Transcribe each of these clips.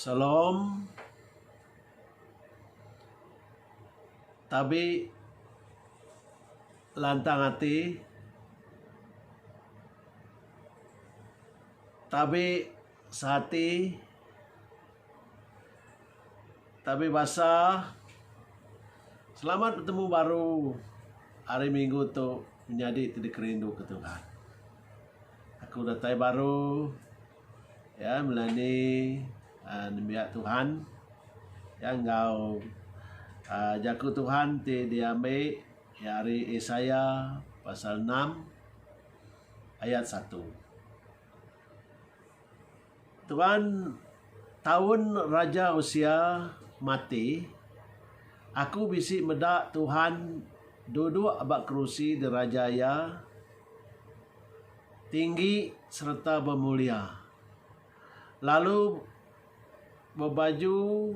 Shalom. Tabi lantang ati. Tabi sehati. Tabi basa, Selamat betemu baru hari minggu tu menyadi ti dikerindu ke Tuhan. Aku datai baru ya melani uh, nembiak Tuhan ya enggau uh, jaku Tuhan ti diambil ya hari Isaya pasal 6 ayat 1. Tuan, taun Raja Usia mati, aku bisi meda Tuhan duduk ba kerusi diraja iya tinggi sereta bemulia, lalu bebaju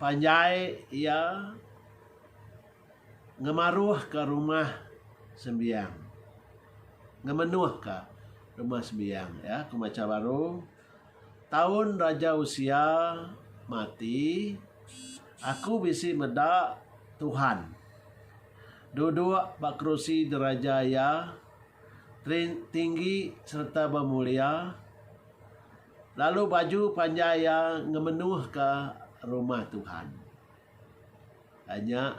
panjai iya. Ngemaruhka rumah sembiang. Ngemenuhka rumah sembiang ya ku macha baru taun Raja Usia mati aku bisi meda Tuhan duduk ba kerusi diraja iya tinggi sereta bemulia lalu baju panjai iya ngemenuhka rumah Tuhan. Ai nya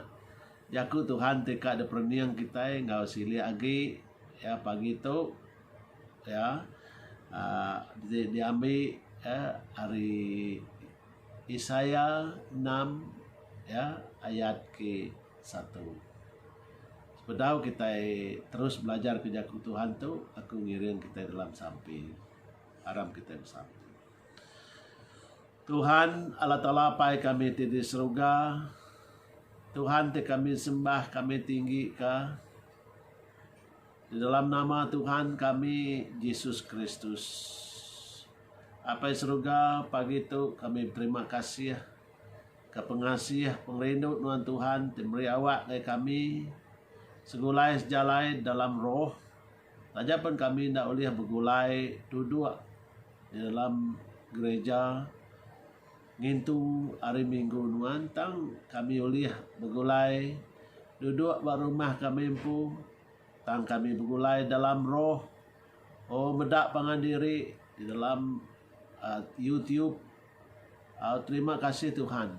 jaku Tuhan ti ka diperening kitai enggau silik agi ya pagi tu ya aaa ti diambi ya ari Isaiah enam ya ayat ke satu. Sepedau kitai terus belajar ke jaku Tuhan tu aku ngiring kitai dalam sampi. Aram kitai besampi. Tuhan, Allah Taala Apai kami ti di seruga, Tuhan ti kami sembah kami tinggi ka, di dalam nama Tuhan kami Jesus Kristus. Apai seruga pagi tu kami beterima kasih ka pengasih pengerindu nuan Tuhan ti meri awak ngagai kami segulai sejalai dalam roh Taja pen kami enda ulih begulai duduk di dalam gereja ngintu hari minggu nuan tang kami ulih begulai duduk ba rumah kami empu tang kami begulai dalam roh oh meda pangan diri di dalam youtube. Terima kasih Tuhan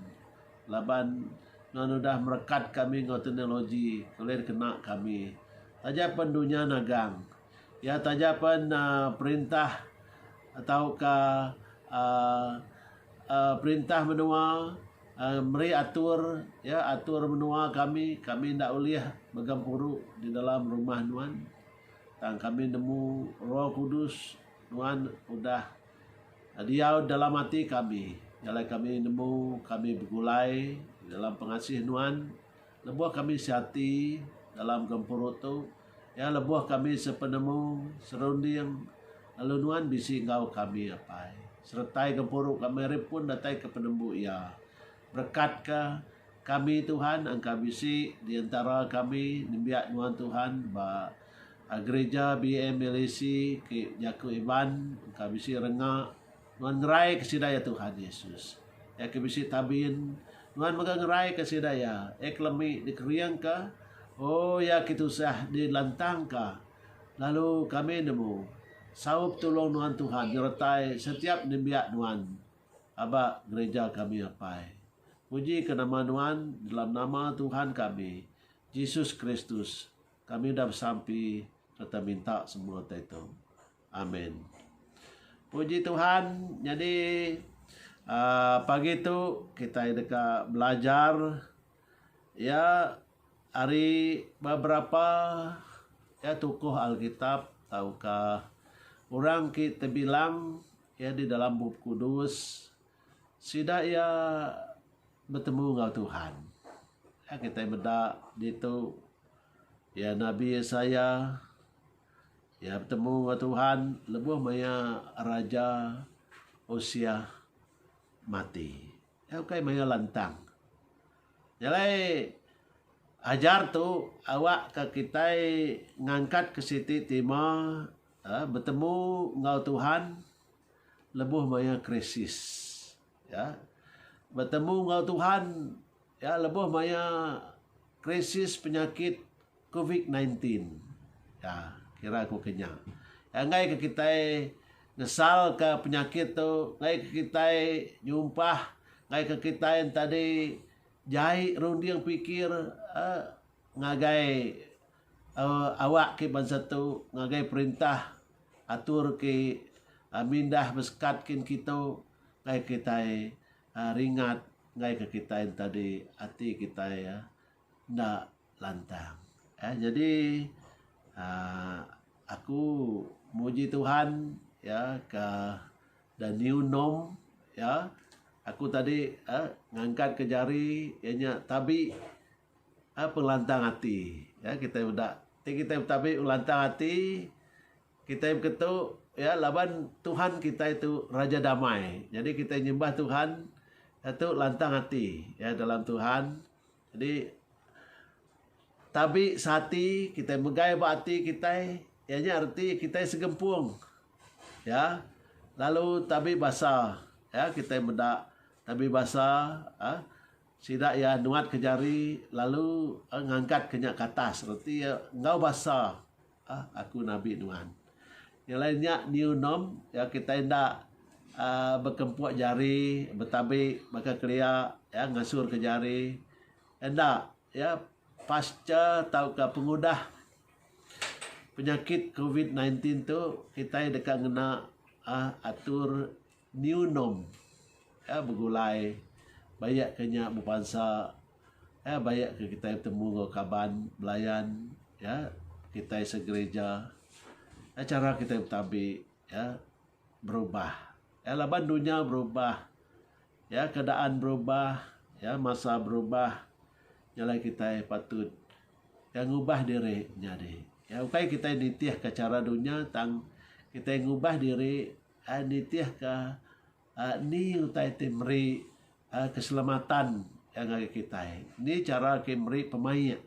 laban nuan udah merekat kami enggau teknologi ke ulih dikena kami. Taja pen dunya nagang iya taja pen uhh perintah tauka uhh uhh perintah menua uhh meri atur iya atur menua kami kami enda ulih megang puru di dalam rumah nuan tang kami nemu roh kudus nuan udah Diau dalam ati kami, jalai kami nemu kami begulai dalam pengasih Nuan. Lebuh kami seati dalam gempuru tu, iya lebuh kami sepenemu, serunding, lalu Nuan bisi enggau kami apai. Seretai gempuru kami ari pun datai ke penembu iya, Berekatka kami Tuhan engka bisi di entara kami nembiak nuan Tuhan ba Gereja BMLAC ke jaku Iban engka bisi renga nuan ngeraika sida iya Tuhan Yesus. Iya ke bisi tabin nuan mega ngeraika sida iya iya ke lemi dikeringka oh iya ke tusah dilantangka lalu kami nemu saup tulung nuan Tuhan nyertai setiap nembiak nuan aba gereja kami apai. Puji ke nama nuan dalam nama Tuhan kami Jesus Kristus kami udah besampi serta minta semua tai tu. Amen. Puji Tuhan nyadi uh, pagi tu kita deka belajar ya hari beberapa ya tokoh Alkitab tauka orang ki tebilang Iya di dalam Bup Kudus, sida iya betemu enggau Tuhan. Iya kitai meda ditu iya Nabi Yesaya iya betemu enggau Tuhan lebuh maya Raja Usiah mati. Iya ukai maya lantang. Nya alai ajar tu awakka kitai ngangkatka siti tema Aa betemu enggau Tuhan lebuh maya krisis. Ya. Betemu enggau Tuhan ya lebuh maya krisis penyakit covid sembilan belas. Ya, kira ku ke nya. Ya enggai ke kitai ngesalka penyakit tu, enggai ke kitai nyumpah, enggai ke kitai enti adi jai runding pikir aa ngagai Awak ke bansa tu ngagai perintah atur ke mindah besekat kin kitu ngagai kitai ringat ngagai ke kitai enta di ati kitai enda lantang jadi aaa aku muji Tuhan ya ke the new norm ya aku tadi ngangkat ke jari ianya tabi Ai pengelantang ati ya kitai meda ti kitai betabi ngelantang ati kitai beketu ya laban Tuhan kitai tu Raja Damai jadi kitai nyembah Tuhan ya tu lantang ati ya dalam Tuhan jadi tabi sati kitai megai ba ati kitai iya nya reti kitai segempung ya lalu tabi basa ya kitai meda tabi basa um Sida iya nuatka jari lalu ngangkatka nya ke atas reti iya enggau basa, Aku nabi nuan. Nya alai nya new norm ya kitai enda bekempuk jari betabi baka kelia ya ngasurka jari enda ya pasca tauka pengudah penyakit covid nineteen tu kitai deka ngena atur New norm ya begulai bayak ke nya bebansa ya bayak ke kitai betemu enggau kaban belayan ya kitai segereja ya chara kitai betambi ya berubah ya laban dunya berubah ya keadaan berubah ya masa berubah nya alai kitai patut ya ngubah diri nyadi ya ukai kitai nitihka chara dunya tang kitai ngubah diri. Ai nitihka ni utai ti meri keselamatan ngagai kitai. Ni chara ke meri pemaik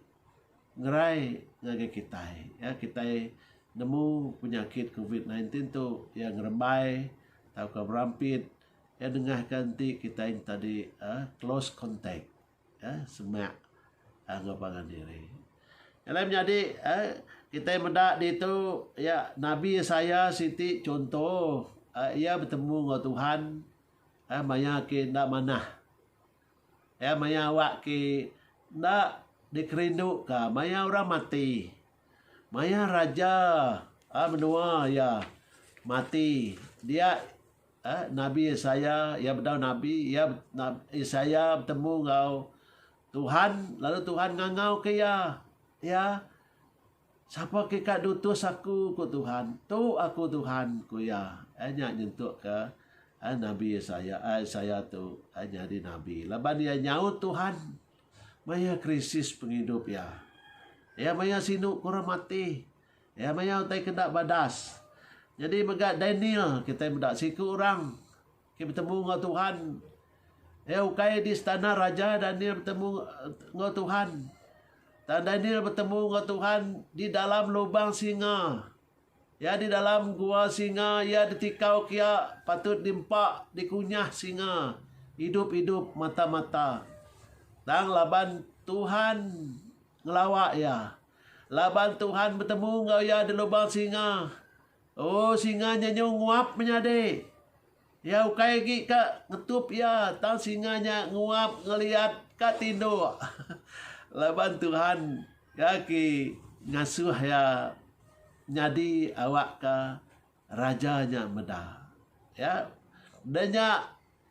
ngerai ngagai kitai. Kitai nemu penyakit covid nineteen ti tu iya ngerebai tauka berampit iya nengahka enti kitai enti tadi close contact. semak enggau pangan diri. Alai menyadi kitai meda ditu iya Nabi Isaiah siti chunto iya betemu enggau Tuhan maya ke enda manah. Iya maya awak ke enda dikerinduka maya orang mati. Maya raja menua iya mati dia A Nabi Yesaya, iya bedau nabi, iya, nabi Yesaya betemu enggau Tuhan lalu Tuhan ngangauka iya, iya, Sapa ke ka diutus aku, ku Tuhan. Tu aku Tuhan, ku iya. Eh, nya nyentukka eh, Nabi Yesaya, eh, Yesaya tu eh, nyadi nabi. Laban iya nyaut Tuhan maya krisis pengidup iya. Iya maya sinu kurang mati. Iya maya utai ke enda badas. Nyadi mega Daniel, kitai meda siku orang ke betemu enggau Tuhan. Iya ukai di istana raja Daniel betemu enggau Tuhan. Tang Daniel betemu enggau Tuhan di dalam lubang singa. Iya di dalam gua singa, iya ditikau ke iya patut diempa dikunyah singa idup-idup mata-mata. Tang laban Tuhan ngelawa iya. Laban Tuhan betemu enggau iya di lubang singa. Oh, singa nyenyu nguap menyadi. Iya ukai agi ka ngetup iya, tang singa nya nguap ngeliat ka tinduk. Laban Tuhan iya ke ngasuh iya nyadi awakka raja nya meda. Ya. De nya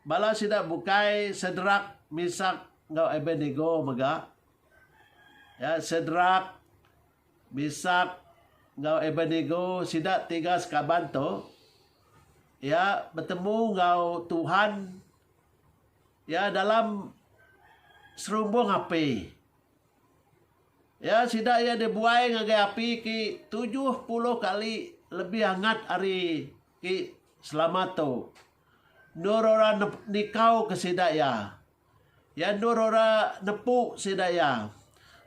bala sida bukai Sedrak, Mesak enggau Abednego mega. Iya, Sedrak, Misak, enggau Abednego, sida tiga sekaban tu, iya betemu enggau Tuhan, iya dalam serumbung api. Iya, sida iya dibuai ngagai api ke tujuh puluh kali lebih angat ari ke selama tu. Endor orang nikauka sida iya. Iya endur ora nepu sida iya.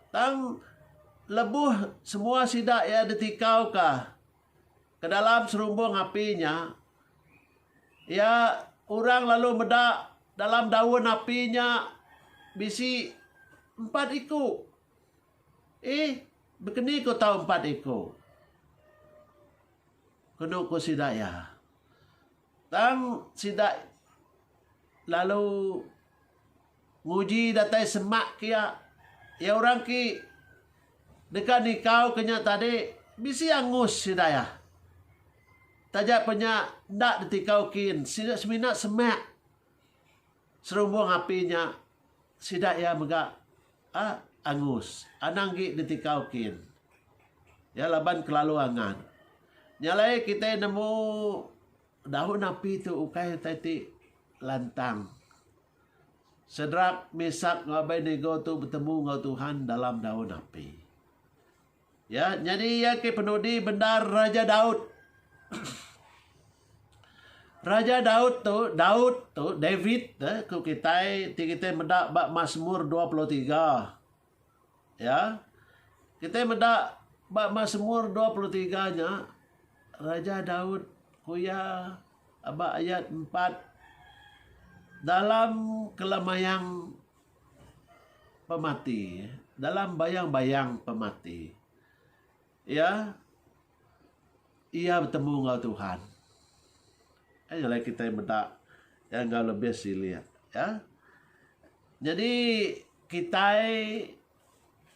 Tang lebuh semua sida iya ditikauka ke dalam serumbung api nya, iya orang lalu meda dalam daun api nya bisi empat iku. Eh, bekeni ku tau empat iku? kenu ku sida iya. Tang sida lalu nguji datai semak ke iya. Iya orang ke deka nikau ke nya tadi bisi angus sida iya. Taja pe nya enda ditikau kin, sida semina semak. Serumbung api nya sida iya mega angus, anang gi ditikau kin iya laban kelalu angat. Nya alai kitai nemu daun api tu ukai utai ti lantang. Sedrak, Mesak enggau Abednego tu betemu enggau Tuhan dalam daun api. Ya, nyadi iya ke penudi bendar Raja Daud. Raja Daud tu, Daud tu, David eh, ku kitai, ti kitai meda ba Mazmur 23. Ya. Kitai meda ba Mazmur 23 nya Raja Daud ku iya aba ayat 4 dalam kelamayang pemati dalam bayang-bayang pemati iya iya betemu enggau Tuhan. Ai nyelai kitai meda iya enggau lebih silik ka. Nyadi kitai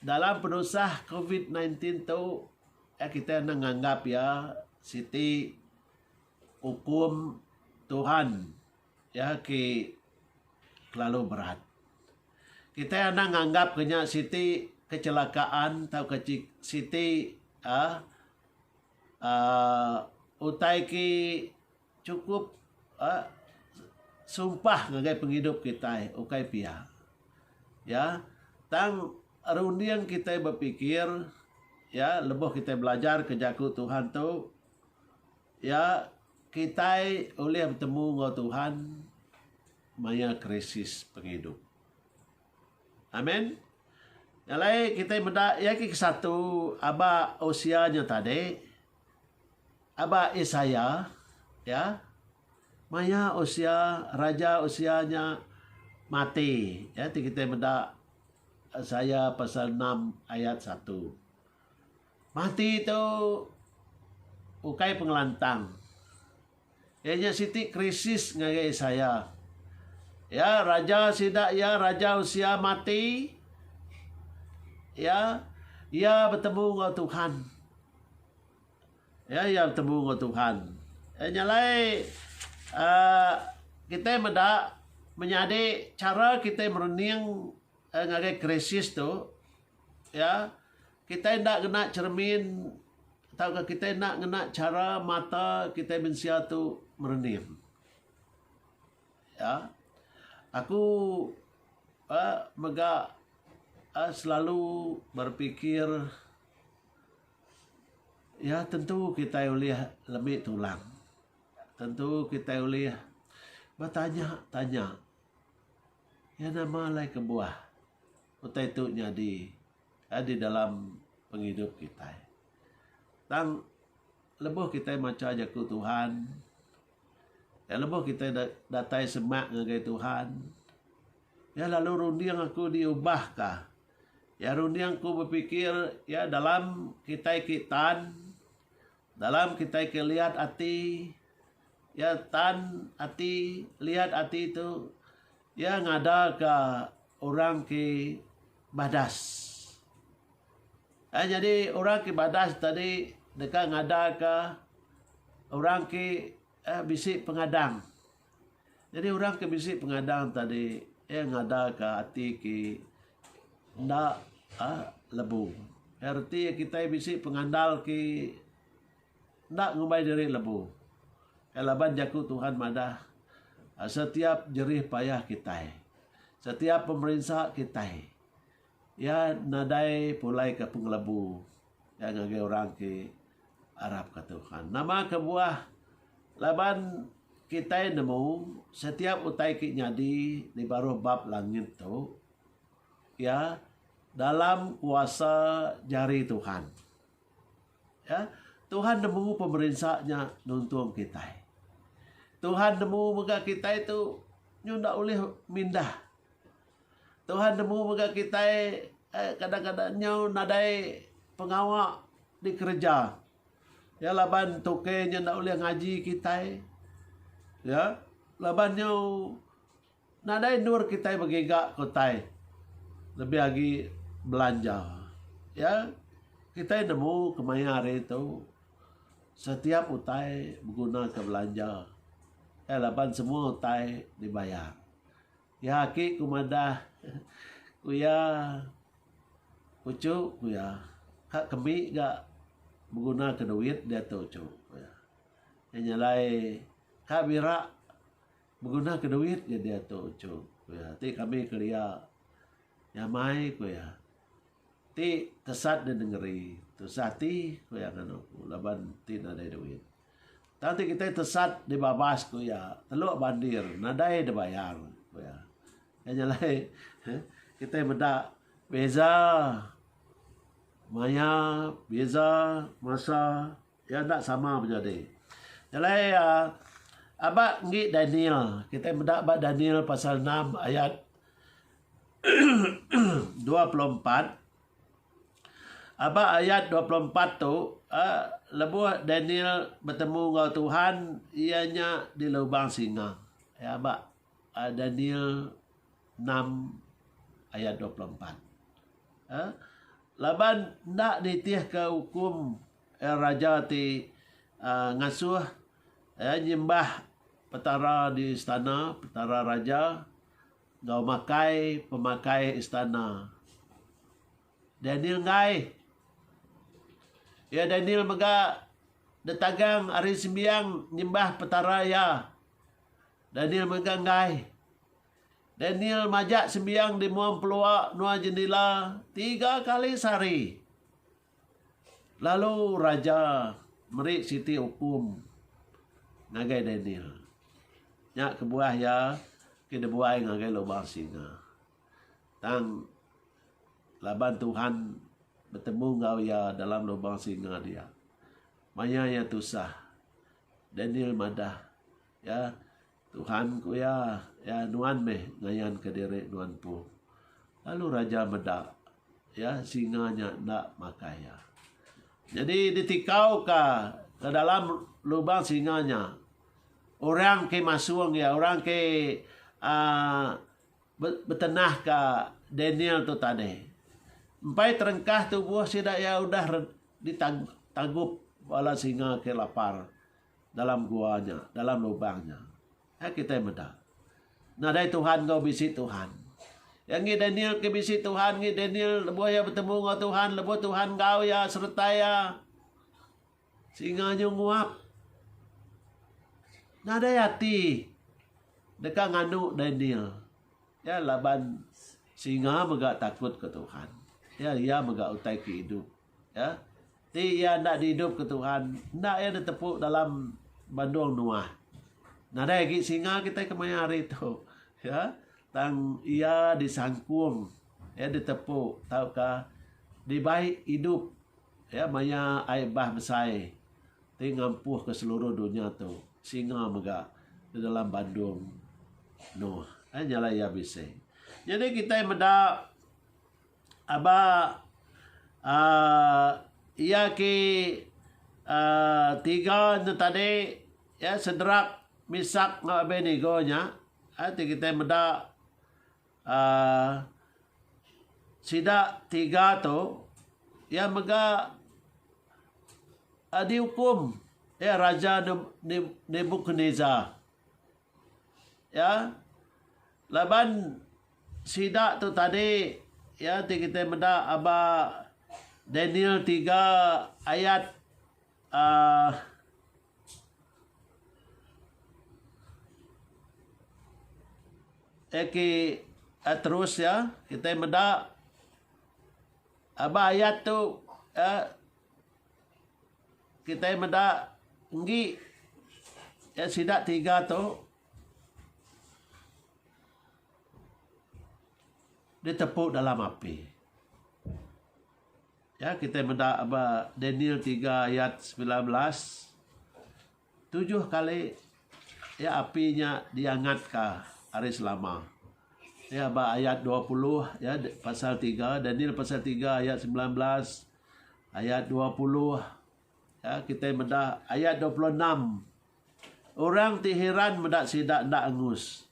dalam penusah covid nineteen tu ai kitai enda nganggap iya siti ukum Tuhan. Iya ki kelalu berat. Kitai anang nganggap ke nya siti kecelakaan tauka siti aaa utai ki chukup aaa sumpah ngagai pengidup kitai ukai pia. Iya tang runding kitai bepikir iya lebuh kitai belajar ke Jaku Tuhan tu Ya, kitai ulih betemu enggau Tuhan maya krisis pengidup. Amen. Nya alai kitai meda iya ke kesatu aba Hosea nya tadi. Aba Isaiah ya. Maya Hosea, Raja Hosea nya mati. Ya, ti kitai meda Isaiah pasal 6 ayat 1. Mati tu ukai pengelantang. Iya nya siti krisis ngagai Isaiah. Ya, raja sida iya, Raja Usia, mati. Ya, iya betemu enggau Tuhan. Ya, iya betemu enggau Tuhan. Iya nya alai uh, kita meda menyadi cara kita merening uh, ngagai krisis tu. Ya, Kitai enda ngena cheremin tauka kitai enda ngena chara mata kitai mensia tu merening. Ya. Aku uhh mega uhh selalu berpikir ya tentu kitai ulih lemi tulang. Tentu kitai ulih betanya tanya ya nama alai kebuah utai tu nyadi. di dalam pengidup kitai. Tang lebuh kitai macha Jaku Tuhan, lebuh kitai datai semak ngagai Tuhan, iya lalu runding aku diubahka. Iya runding aku bepikir iya dalam kitai ke tan, dalam kitai ke liat ati, iya tan ati, liat ati tu. Iya ngadaka orang ke badas. Ai nyadi orang ke badas tadi deka ngadaka orang ke eh, bisi pengadang. Jadi orang ke bisi pengadang tadi iya ngadaka ati ke enda eh, lebu. Erti kita bisi pengandal ke Enda ngumbai diri lebu. Kai laban jaku Tuhan madah setiap jerih payah kitai, setiap pemerinsa kitai iya nadai pulaika pengelebu iya ngagai orang ti arapka Tuhan. Nama kebuah laban kitai nemu setiap utai ti nyadi di baruh bab langit tu iya dalam kuasa jari Tuhan. Ya, Tuhan nemu pemerinsa nya nuntung kitai. Tuhan nemu mega kitai tu nyu ndak ulih mindah. Tuhan nemu mega kitai eh, kadang-kadang nyu nadai pengawa dikereja. Ya laban tuke nyu ndak ulih ngaji kitai. Ya, laban nyu Nadai endur kitai begiga ke utai lebih agi belanja iya. Kitai nemu kemaya hari tu setiap utai begunaka belanja iya laban semua utai dibayar. Iya aki ku madah ku iya uchu ku iya ka kemi ga begunaka duit diatu uchu ku iya. Nyelai ka bira Begunaka duit nyen dia tu Chum, ku iya. Ti kami kelia nyamai, ku iya. Ti tesat di nengeri tusah ati, ku iya nganu aku, laban ti nadai duit. Tang ti kitai tesat di babas, ku iya, teluk bandir nadai dibayar, ku iya. Iya nya alai kitai meda beza maya, beza masa. Iya enda sama menyadi. Jalai aba enggi Daniel. Kitai meda ba Daniel pasal 6 ayat 24. Aba ayat 24 tu uh, lebuh Daniel bertemu enggau Tuhan iya nya di lubang singa. Ya aba uh, Daniel 6 ayat 24. Uh, laban ndak nitihka hukum Iya raja ti ngasuh iya nyembah Petara di istana Petara Raja enggau makai pemakai istana. Daniel enggai. Iya Daniel mega ditagang ari sembiang nyembah Petara iya. Daniel mega enggai. Daniel majak sembiang di mua empelua, nua jendila tiga kali sehari. Lalu raja meri siti ukum ngagai Daniel. Nya kebuah iya ke dibuai ngagai lubang singa. Tang laban Tuhan betemu enggau iya dalam lubang singa dia, maya iya tusah, Daniel madah, iya Tuhan, ku iya, iya nuan meh ngayanka diri nuan empu. Lalu raja meda iya singa nya enda makai iya. Nyadi ditikauka ke dalam lubang singa nya orang ke masung iya, orang ke um betenahka Daniel tu tadi. Empai terengkah tubuh sida iya udah ditagup bala singa ke lapar. dalam gua nya, dalam lubang nya. Ai kitai meda. Nadai Tuhan enggau bisi Tuhan. Yang ngi Daniel ke bisi Tuhan ngi Daniel lebuh ia betemu enggau Tuhan, lebuh Tuhan enggau ia sereta ia. Singa nyu nguap. Nadai ati deka nganu Daniel. Ya laban singa mega takut ke Tuhan. Ya ia mega utai ke idup. Ya. Ti iya enda diidupka Tuhan, enda iya ditepu dalam bandong Noah. Nadai agi singa kitai kemaya hari tu. Ya, tang iya disangkung, iya ditepu tauka dibai idup ya maya ai bah besai ti ngampuhka seluruh dunya tu. Singa mega di dalam bandong Noah. Ai nyala iya bisi. Nyadi kitai meda Aba aaa iya ki aaa tiga ne tadi iya sederap misak enggau Abednego nya aaa ti kitai meda aaa sida tiga tu iya mega aaa diukum iya raja Nebukadnesar iya Laban sida tu tadi iya ti kitai meda aba Daniel tiga ayat um eki terus iya kitai meda aba ayat tu um kitai meda enggi sida tiga tu Ditepu dalam api. Ya kitai meda ba Daniel tiga ayat semilan belas tujuh kali ya api nya diangatka hari selama. Ya ba ayat dua puluh ya pasal tiga Daniel pasal tiga ayat semilan belas ayat dua puluh ya kitai meda ayat dua puluh enam. Orang ti hiran meda sida enda angus.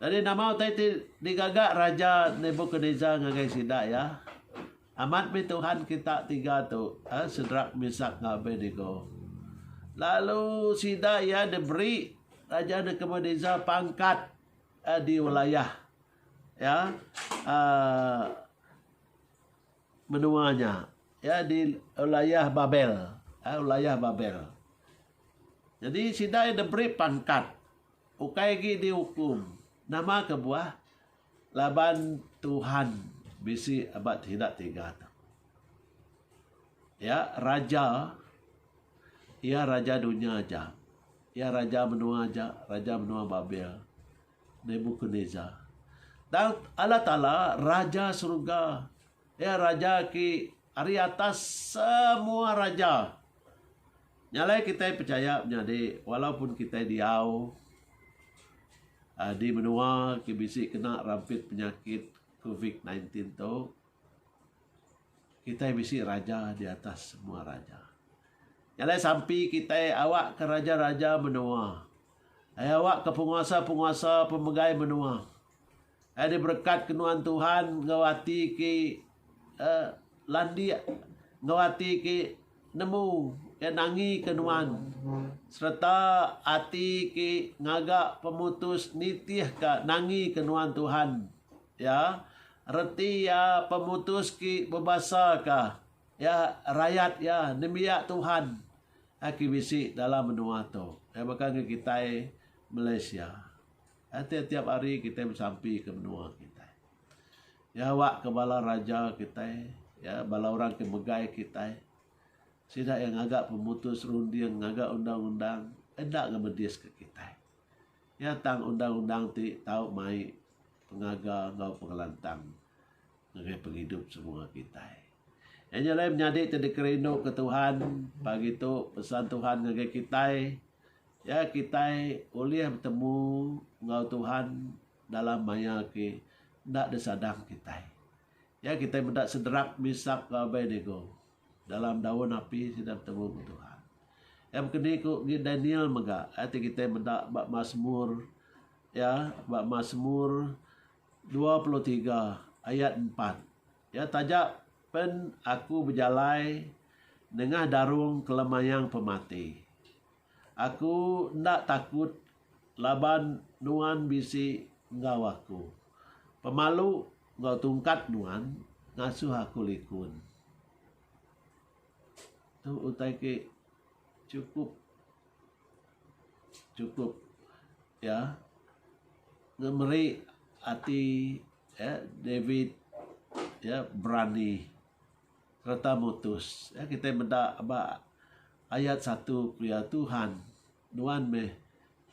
Jadi nama utai ti digaga Raja Nebukadnezar ngagai sida iya? Amat mih tuhan kita tiga tu, ha, Sedrak, Mesak, enggau Abednego. Lalu sida iya diberi Raja Nebukadnezar pangkat eh, di wilayah ya uh, Menua nya iya di ulayah Babel. Ai ulayah Babel. Jadi sida iya diberi pangkat ukai agi diukum. Nama kebuah? Laban Tuhan bisi ba sida tiga tu. Iya raja iya raja dunya aja. Iya raja menua aja, raja menua Babel. Nebukadnezar. Tang Allah Taala, Raja Seruga, iya Raja ti ari atas semua raja. Nya alai kitai pechaya menyadi walaupun kitai diau di menua ti bisi kena rampit penyakit covid sembilan belas tu, kitai bisi Raja di atas semua raja. Nya alai sampi kitai awakka raja-raja menua. Ai awakka penguasa-penguasa pemegai menua. Ai diberekatka nuan Tuhan enggau ati ke um landik enggau ati ke nemu ke nangika nuan sereta ati ke ngaga pemutus nitihka nangika nuan Tuhan iya reti iya pemutus ke bebasaka iya rayat iya nembiak Tuhan. Aki bisi dalam menua tu iya baka ngan kitai Malaysia tiap-tiap hari kitai besampi ke menua kitai. Iya awak ke bala raja kitai iya bala orang ke megai kitai sida iya ngaga pemutus runding ngaga undang-undang enda ngemedis ke kitai. Iya tang undang-undang ti tau mai pengaga enggau pengelantang. ngagai pengidup semua kitai. Nya nya alai menyadi ti dikerinduka Tuhan pagi tu pesan Tuhan ngagai kitai ya kitai ulih betemu enggau Tuhan dalam maya ke enda disadang kitai. Ya kitai meda sederap misak labai digu dalam daun api sida betemu enggau Tuhan. Ya kini ku Daniel mega ti kitai meda ba Masmur ya ba Masmur dua puluh tiga ayat empat, Iya taja pen aku bejalai nengah darung kelemayang pemati. Aku enda takut laban Nuan bisi enggau aku. Pemalu enggau tungkat Nuan ngasuh aku likun. Tu utai ke chukup. chukup iya ngemeri ati iya David iya berani sereta mutus. Iya kitai meda ba ayat satu pia Tuhan nuan meh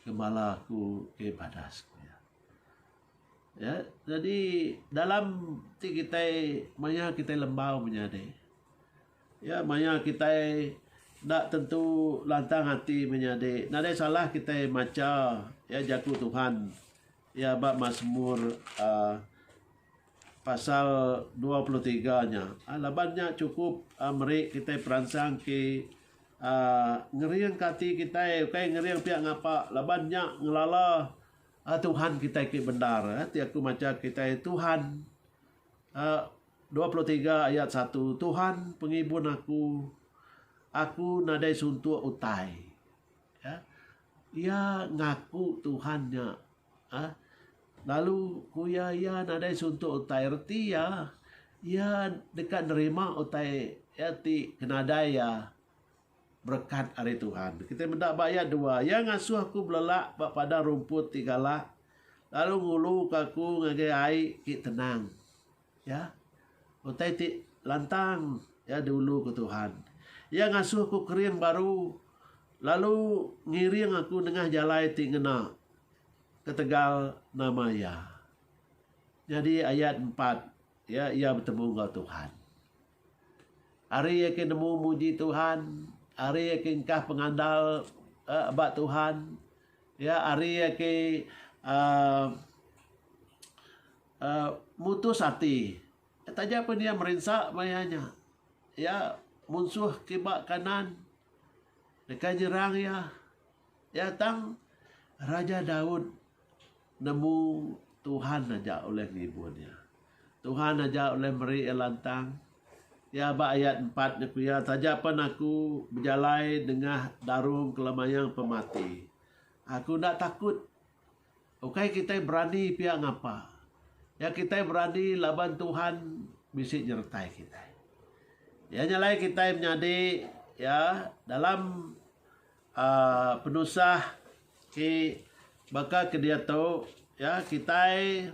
ngemala aku ke badas ku iya. Iya jadi dalam ti kitai maya kitai lembau menyadi. Iya maya kitai enda tentu lantang ati menyadi nadai salah kitai macha iya Jaku Tuhan iya ba Masmur uhh pasal dua puluh tiga nya uhh laban nya chukup uhh meri kitai peransang ti uhh ngeringka ati kitai ukai ngering pia ngapa laban nya ngelala uhh Tuhan kitai ti bendar ti aku macha kitai Tuhan uhh Dua puluh tiga ayat satu Tuhan pengibun aku, aku nadai suntuk utai. Ya. Iya ngaku Tuhan nya. Ha? Lalu ku iya iya nadai suntuk utai reti iya iya deka nerima utai iya ti ke nadai iya Berekat ari Tuhan. Kitai meda ba iya dua. Iya ngasuh aku belelak ba padang rumput ti galak lalu nguluka aku ngagai ai ti tenang. Ya. Utai ti lantang ya diulu ku Tuhan. Iya ngasuh aku kering baru lalu ngiring aku nengah jalai ti ngena ketegal nama iya. Nyadi ayat empat, ya, iya betemu enggau Tuhan. Ari iya ke nemu muji Tuhan, ari iya ke engkah pengandal uhh ba Tuhan, iya ari iya ke uhh uhh mutus ati taja pun iya merinsa maya nya. Iya munsuh kiba kanan deka nyerang iya. Iya tang Raja Daud. Nemu Tuhan aja ulih ngibur iya. Tuhan aja ulih meri iya lantang. Iya ba ayat empat nya ku iya, Taja pen aku bejalai nengah darung kela mayang pemati, aku enda takut. Ukai kitai berani pia ngapa. Iya kitai berani laban Tuhan bisi nyertai kitai. Iya nya alai kitai menyadi iya dalam penusah ti baka ke diatu ya kitai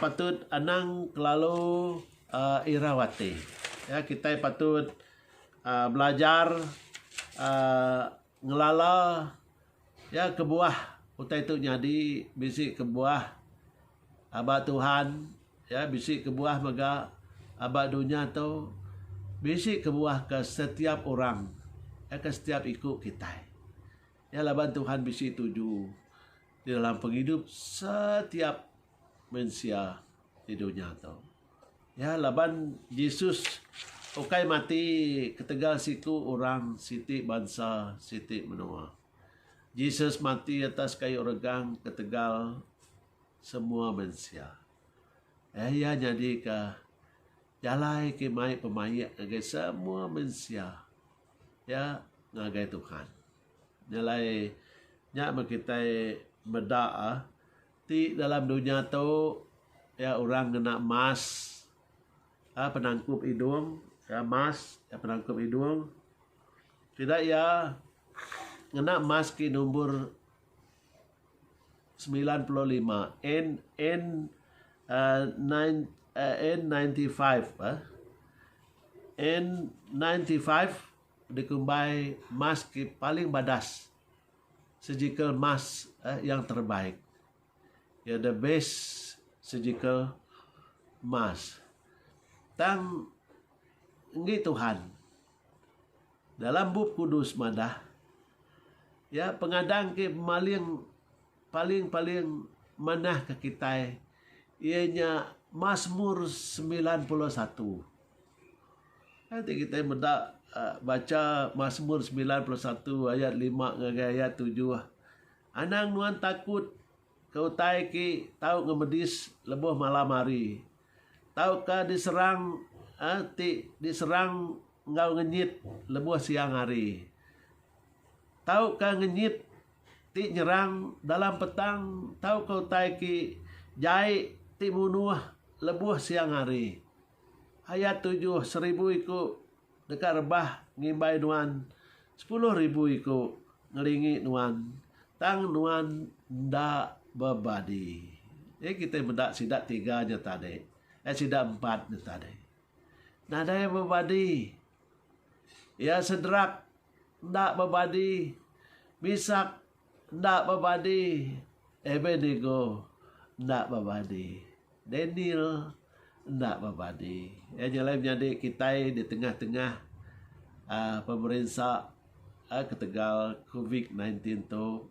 patut anang kelalu irau ati ya kitai patut belajar ngelala ya kebuah utai tu nyadi bisi kebuah Aba Tuhan ya bisi kebuah mega aba dunya tu bisi kebuah ke setiap orang ya ke setiap iku kitai. Ya laban Tuhan bisi tuju di dalam pengidup setiap mensia di dunya tu. Ya laban Jesus ukai mati ketegal siku orang siti bansa siti menua. Jesus mati atas kayu regang ketegal semua mensia. Eh iya nyadika jalai ke mai pemaik ngagai semua mensia iya ngagai Tuhan. Nya alai nya men kitai meda ti dalam dunya tu iya orang ngena emas penangkup idung, mask, penangkup idung. Sida iya ngena mask ti nombor semilan puluh lima N N uh, nine, uh, N95 eh. N95 dikumbai mask ti paling badas. Surgical mask eh, yang terbaik. Iya da best surgical mask. Tang enggi Tuhan dalam Bup Kudus madah iya pengadang ti maling paling-paling manah ke kitai iya nya Masmur semilan puluh satu. Kai ti kitai meda baca Masmur semilan puluh satu ayat lima ngagai ayat tujuh. Anang nuan takut ke utai ke tau ngemedis lebuh malam hari tauka diserang ti diserang enggau ngenyit lebuh siang hari tauka ngenyit ti nyerang dalam petang tauka utai ke jai ti munuh lebuh siang hari. Ayat tujuh, Seribu iku deka rebah ngimbai nuan, sepuluh ribu iku ngelingi nuan, tang nuan enda bebadi. Jadi kitai meda sida tiga nya tadi, eh sida empat nya tadi. Nadai bebadi. Iya Sedrak enda bebadi. Misak Enda bebadi, Abednego enda bebadi, Daniel enda bebadi. Iya nyelai menyadi kitai di tengah-tengah pemerinsa ketegal covid nineteen ti tu.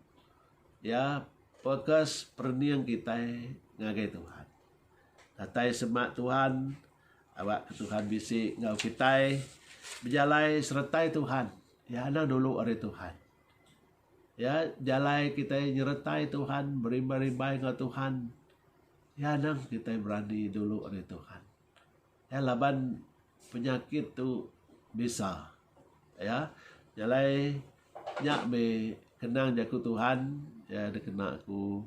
Iya fokus perening kitai ngagai Tuhan. Datai semak Tuhan, aba ke Tuhan bisi enggau kitai. Bejalai seretai Tuhan. Iya anang dulu ari Tuhan. Ya, jalai kitai nyeretai Tuhan, berimbai-rimbai enggau Tuhan, iya nang kitai berani dulu ari Tuhan. Ya, laban penyakit tu bisa. Ya, jalai nya meh kenang jaku Tuhan ya dikena aku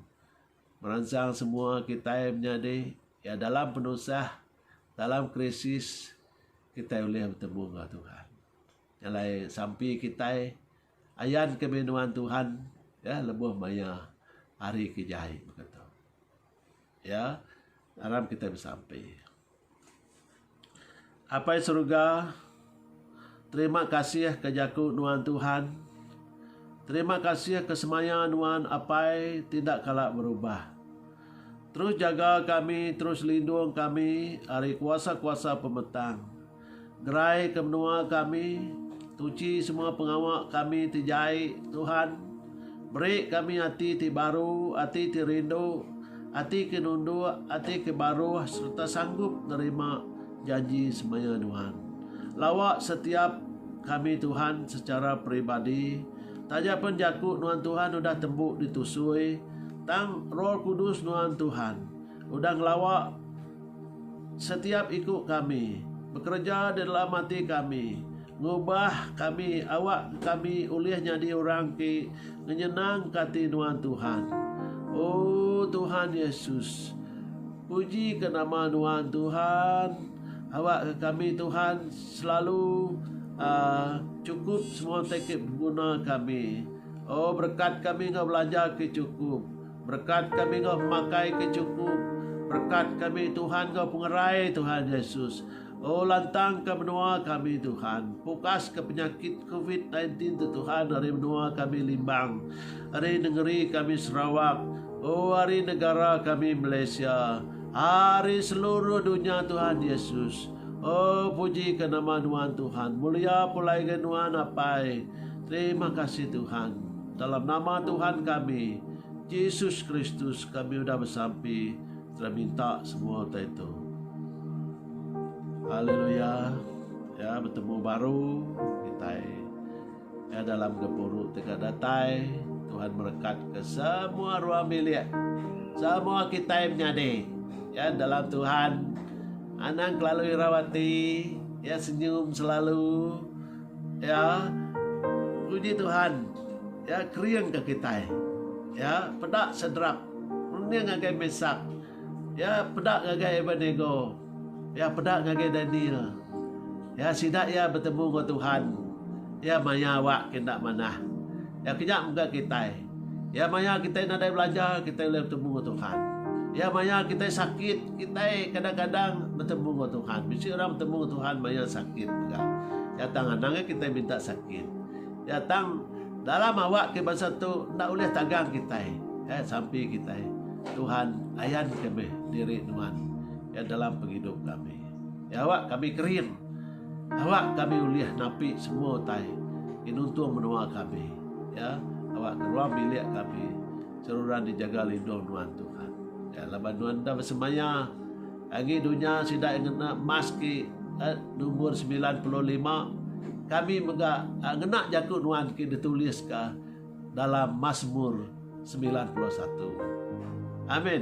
meransang semua kitai menyadi ya dalam penusah, dalam krisis kitai ulih betemu enggau Tuhan. Jalai sampi kitai ayan ke meh nuan Tuhan ya lebuh maya hari ke jai baka tu. Ya aram kitai besampi. Apai Suruga terima kasih ke jaku nuan Tuhan. Terima kasih ke semaya nuan apai ti enda kala berubah. Terus jaga kami, terus lindung kami ari kuasa-kuasa pemetang. Gerai ke menua kami, tuchi semua pengawa kami ti jai, Tuhan. Beri kami ati ti baru, ati ti rindu, ati ke nunduk, ati ke baruh sereta sanggup nerima janji semaya Nuan. Lawa setiap kami Tuhan secara peribadi, taja pen jaku Nuan Tuhan udah tembu ditusui, tang Roh Kudus Nuan Tuhan udah ngelawa Setiap iku kami bekereja di dalam ati kami ngubah kami awak kami ulih nyadi orang ti ngenyenangka ati nuan Tuhan. Oh Tuhan Yesus puji ke nama nuan Tuhan awak ke kami Tuhan selalu uh, cukup semua tekip guna kami. Oh berkat kami enggau belanja ke cukup. Berkat kami enggau pemakai ke chukup. Berkat kami Tuhan enggau pengerai Tuhan Yesus. O lantangka menua kami Tuhan. Pukaska penyakit covid nine tin tu Tuhan ari menua kami Limbang. Ari nengeri kami Sarawak. O ari negara kami Malaysia. Ari seluruh dunya Tuhan Yesus. O pujika nama nuan Tuhan. Mulia pulai ga nuan Apai. Terima kasih Tuhan. Dalam nama Tuhan kami, Jesus Kristus, kami udah besampi dan minta semua utai itu. Haleluya. Ya, bertemu baru kita ya, dalam gempuru tegak datai. Tuhan berkat ke semua ruang bilik. Semua kita yang menyadi. Ya, dalam Tuhan. Anang kelalu irawati. Ya, senyum selalu. Ya, puji Tuhan. Ya, kering ke kitai. Ya, peda Sedrak. Runding ngagai Mesak. Ya, peda ngagai Abednego. Ya, peda ngagai Daniel. Ya, sida iya betemu enggau Tuhan. Iya maya awak ke enda manah. Ya, ke nya mega kitai. Iya maya kitai nadai belajar, kitai ulih betemu enggau Tuhan. Iya maya kitai sakit, kitai kadang-kadang betemu enggau Tuhan. Bisi orang betemu enggau Tuhan maya sakit mega. Iya tang anang aja kitai minta sakit. Iya tang dalam awak ke bansa tu enda ulih tagang kitai. Eh sampi kitai. Tuhan ayan kami diri nuan. Iya dalam pengidup kami. Iya awak kami kering. Awak kami ulih napi semua utai ti nuntung menua kami, ya, awak ke ruang bilik kami seruran dijaga lindung nuan Tuhan. Ya, laban nuan enda besemaya agi dunya sida iya ngena maski eh, nombor 95 kami mega eh, ngena jaku nuan ki dituliska dalam Mazmur 91. Amin.